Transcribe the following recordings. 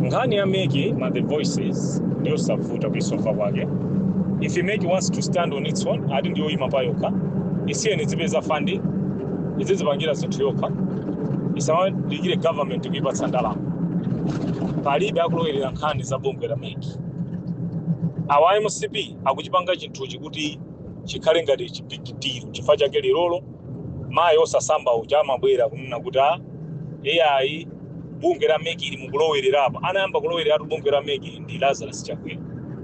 nkhani ya mec my voices ndiyosavuta kuisova kwake if mec wants to stand on its own ati ndiyoyima pa yokha isiyeni izipeza funding izizipangira zinthu yokha isamadikirire government kuipatsa ndalama palibe akulowerera nkhani za bungwe la mec awa mcp akuchipanga chinthuchi kuti chikhale ngati chibisiliro chifukwa chake lerolo mayi osasamba uja amabwera kunena kuti a ai bungwe la mec ili mukulowerera apa anayamba kulowereratu bungwe la mec ndi lazarus chakwera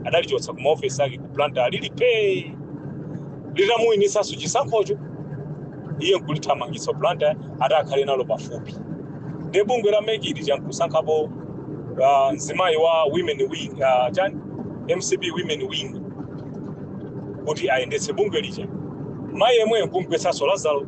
adalichotsa ku maofesi ake ku blantyre lili phee litamuwinitsanso chisankhocho iye nkulithamangitsa blantyre ati akhale nalo pafupi nde bungwe la mec ili lija nkusankhapo uh, mzimayi wa women wing uh, chani mcp women wing kuti ayendetse bungwe lija mayi yemweyo nkumgwetsanso lazaro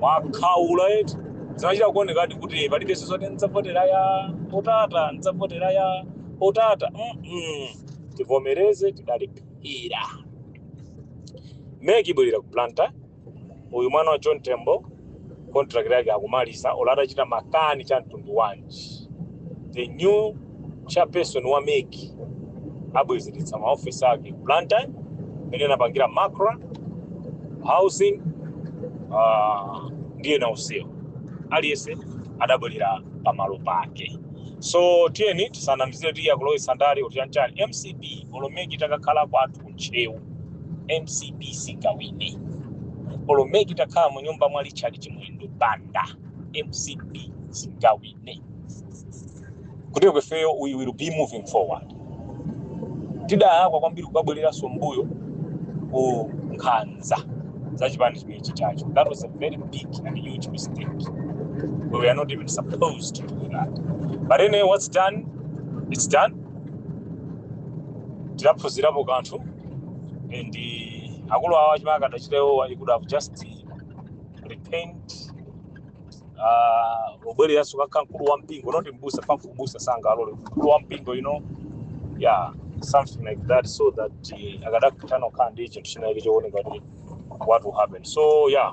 mwakhaula eti zinachita kuonekadi kuti palibenso zoti ndidzavotera ya otata ndidzavotera ya otata Mm-mm. tivomereze tidaluza mec ibwerera ku blantyre uyu mwana wa john tembo contract yake akumaliza olo atachita makani a mtundu wanji the new chairperson wa mec abwezeretsa maofesi ake ku blantyre imene anapangira macra housing ah, ndi ena onsewo aliyense adabwerera pamalo pake so tiyeni tisanamizire ati akulowetsa ndale kuti chanchani mcp olo mec itakakhala kwathu ku ntcheu mcp singawine olo mec itakhala mu nyumba mwa richard chimwendo banda mcp singawine kuti kwa ifeyo we will be moving forward tidalakwa kwambiri kukabwereranso mbuyo ku nkhanza za chipani chimechi chijacho that was a very big and huge mistake we were not even supposed to do that but anyway what's done it's done tidaphunzirapo kanthu and uh, akulu awa chimene akadachita iwowa he could have just uh, repent ah, nkubwereranso kukakhala mkulu wa mpingo not mbusa paja ubusa sangalole mkulu wa mpingo you know yeah something like that so that uh, akadatha pano kukhala ndi chinthu china icho chooneka kuti what will happen so yeah